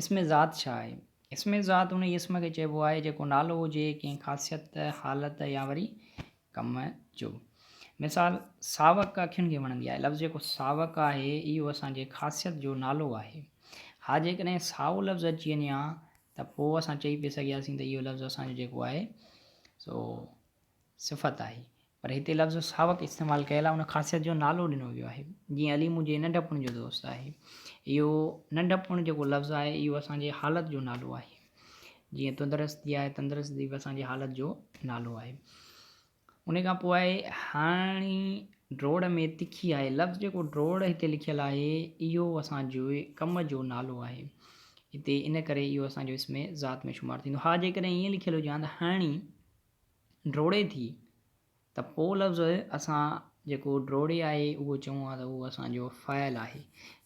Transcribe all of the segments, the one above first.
اسم ذات ڇا آهي؟ اسم ذات انهيء اسم کي چئبو آهي، جيڪو نالو هجي ڪنهن خاصيت، حالت يا وري ڪم جو. مثال، ساوڪ اکين کي وڻندي آهي. لفظ جيڪو ساوڪ آهي، اهو اسان جي خاصيت جو نالو آهي. ها جيڪڏهن سائو لفظ اچي وڃي ها ته پوء اسان چئي پئي سگهياسين ته اهو لفظ اسان جو جيڪو آهي سو صفت آهي، پر هتي لفظ ساوڪ استعمال ڪيل آهي، ان خاصيت جو نالو ڏنو ويو آهي، جيئن علي منهنجي ننڍپڻ جو دوست آهي. اهو ننڍپڻ جيڪو لفظ آهي، اهو اسان جي حالت جو نالو آهي، جيئن تندرستي آهي، تندرستي به اسان جي حالت جو نالو آهي. ان کان پوء آهي هاڻي ڊوڙ ۾ تکي آهي، لفظ جيڪو ڊوڙ هتي لکيل آهي، اهو اسان جي ڪم جو نالو آهي، هتي ان ڪري اهو اسان جو اسم ذات ۾ شمار ٿيندو. ها جيڪڏهن ائين لکيل هجي هان ته هاڻي. ڊوڙي ٿي ته پو لفظ اسان جيڪو ڊوڙي آهي اهو چئون ها ته اهو اسان جو فعل آهي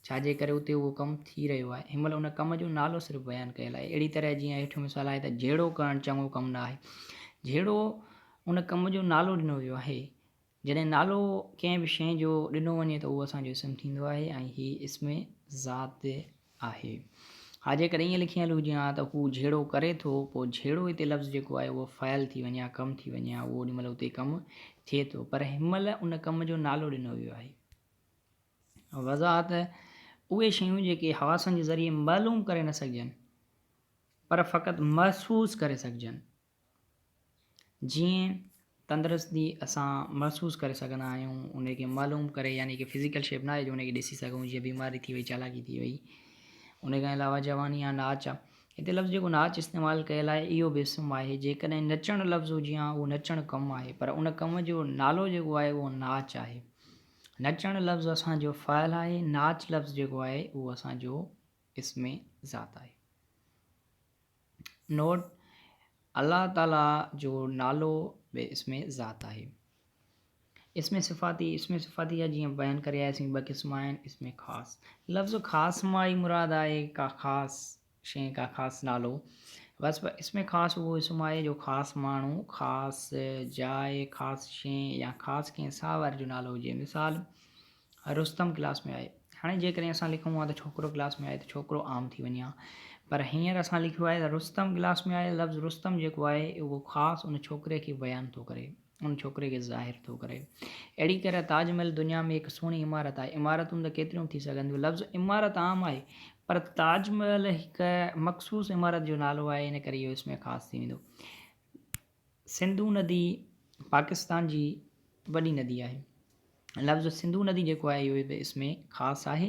ڇا جي ڪري اتي اهو ڪم ٿي رهيو آهي هن مهل ان ڪم جو نالو صرف بيان ڪيل آهي اهڙي طرح جيئن هيٺيون مثال آهي ته جهيڙو ڪرڻ چڱو ڪم نه آهي جهيڙو ان ڪم جو نالو ڏنو ويو آهي جڏهن نالو ڪنهن به شيء جو ڏنو وڃي ته اهو اسان جو اسم ٿيندو آهي ۽ هي اسم ذات آهي. ها جيڪڏهن ائين لکي هلون جيئن ها ته هو جهيڙو ڪري ٿو، پوء جهيڙو هتي لفظ جيڪو آهي اهو فعل ٿي وڃي ها، ڪم ٿي وڃي ها، اهو اوڏي مهل اتي ڪم ٿئي ٿو، پر هن مهل ان ڪم جو نالو ڏنو ويو آهي. وضاحت، اهي شيون جيڪي حواسن جي ذريعي معلوم ڪري نه سگهجن پر فقط محسوس ڪري سگهجن. جيئن تندرستي اسان محسوس ڪري سگهندا آهيون ان کي معلوم ڪري يعني ڪي فزيڪل شيپ ناهي جو ان کي ڏسي سگهون جيئن بيماري ٿي وئي چالاڪي ٿي وئي ان کان علاوه جواني يا ناچ آ هتي لفظ جيڪو ناچ استعمال ڪيل آهي اهو به اسم آهي جيڪڏهن نچڻ لفظ هجي ها اهو نچڻ ڪم آهي پر ان ڪم جو نالو جيڪو آهي اهو ناچ آهي نچڻ لفظ اسان جو فعل آهي ناچ لفظ جيڪو آهي اهو اسان جو اسم ذات آهي نوٽ، الله تعاليٰ جو نالو به اسم ذات آهي. اسم صفاتي، اسم صفاتي جا جيئن بيان ڪري آياسين ٻه قسم آهن، اسم خاص، لفظ خاص مان ئي مراد آهي ڪا خاص شيء ڪا خاص نالو، وصف، اسم خاص اهو اسم آهي جو خاص ماڻهو، خاص جاء، خاص شيء يا خاص ڪنهن ساهوار جو نالو هجي، مثال. رستم ڪلاس ۾ آهي هاڻي جيڪڏهن اسان لکون ها ته ڇوڪرو ڪلاس ۾ آهي ته ڇوڪرو عام ٿي وڃي ها پر هينئر اسان لکيو آهي ته رستم ڪلاس ۾ آهي لفظ رستم جيڪو آهي اهو خاص ان ڇوڪري کي بيان ٿو ڪري ان ڇوڪري کي ظاهر ٿو ڪري اهڙي طرح تاج محل دنيا ۾ هڪ سهڻي عمارت آهي عمارتون ته ڪيتريون ٿي سگهن ٿيون لفظ عمارت عام آهي پر تاج محل هڪ مخصوص عمارت جو نالو آهي ان ڪري اهو اس ۾ خاص ٿي ويندو سنڌو ندي پاڪستان جي وڏي ندي آهي. لفظ سنڌو ندي جيڪو آهي اهو به اس ۾ خاص آهي.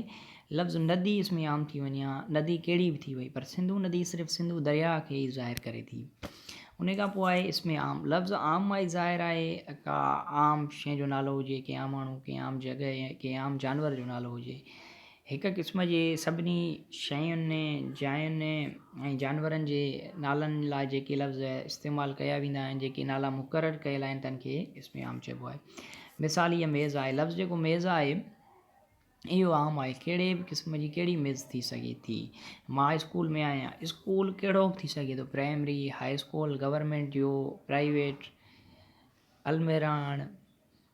لفظ ندي اس ۾ عام ٿي وڃي ها ندي ڪهڙي به ٿي وئي پر سنڌو ندي صرف سنڌو درياء کي ئي ظاهر ڪري ٿي. انهي کان پوء آهي اسم عام. لفظ عام مان ئي ظاهر آهي ڪا عام شيء جو نالو هجي، ڪنهن عام ماڻهو، ڪنهن عام جڳهه يا ڪنهن عام جانور جو نالو هجي. هڪ قسم جي سڀني شين، جاين ۽ جانورن جي نالن لاء جيڪي لفظ استعمال ڪيا ويندا آهن، جيڪي نالا مقرر ڪيل آهن تن کي اسم عام چئبو آهي. مثال هيء ميز آهي. لفظ جيڪو ميز آهي اهو عام آهي. ڪهڙي به قسم جي ڪهڙي ميز ٿي سگهي ٿي. مان اسڪول ۾ آهيان. اسڪول ڪهڙو به ٿي سگهي ٿو، پرائمري، هاء اسڪول، گورنمينٽ جو، پرائيويٽ، الميراڻ.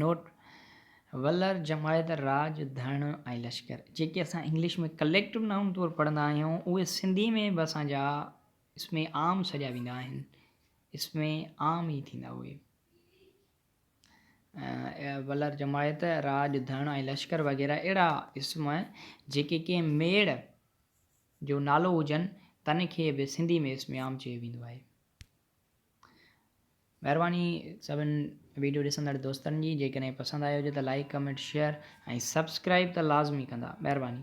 نوٽ، ولر جماعت، راڄ، ڌڻ ۽ لشڪر جيڪي اسان انگلش ۾ ڪليڪٽو نائون طور پڙهندا آهيون اهي سنڌي ۾ به اسان جا اسم عام سڏيا ويندا آهن اسم عام ئي ٿيندا اهي ولر جماعت، راڄ، ڌڻ ۽ لشڪر وغيره اهڙا اسم جيڪي ڪنهن ميڙ جو نالو هجن تن کي به سنڌي ۾ اسم عام چيو ويندو آهي. مهرباني سڀن ويڊيو ڏسندڙ دوستن جي جيڪڏهن پسند آيو هجي ته لائيڪ ڪمينٽ شيئر ۽ سبسڪرائيب ته لازمي ڪندا مهرباني.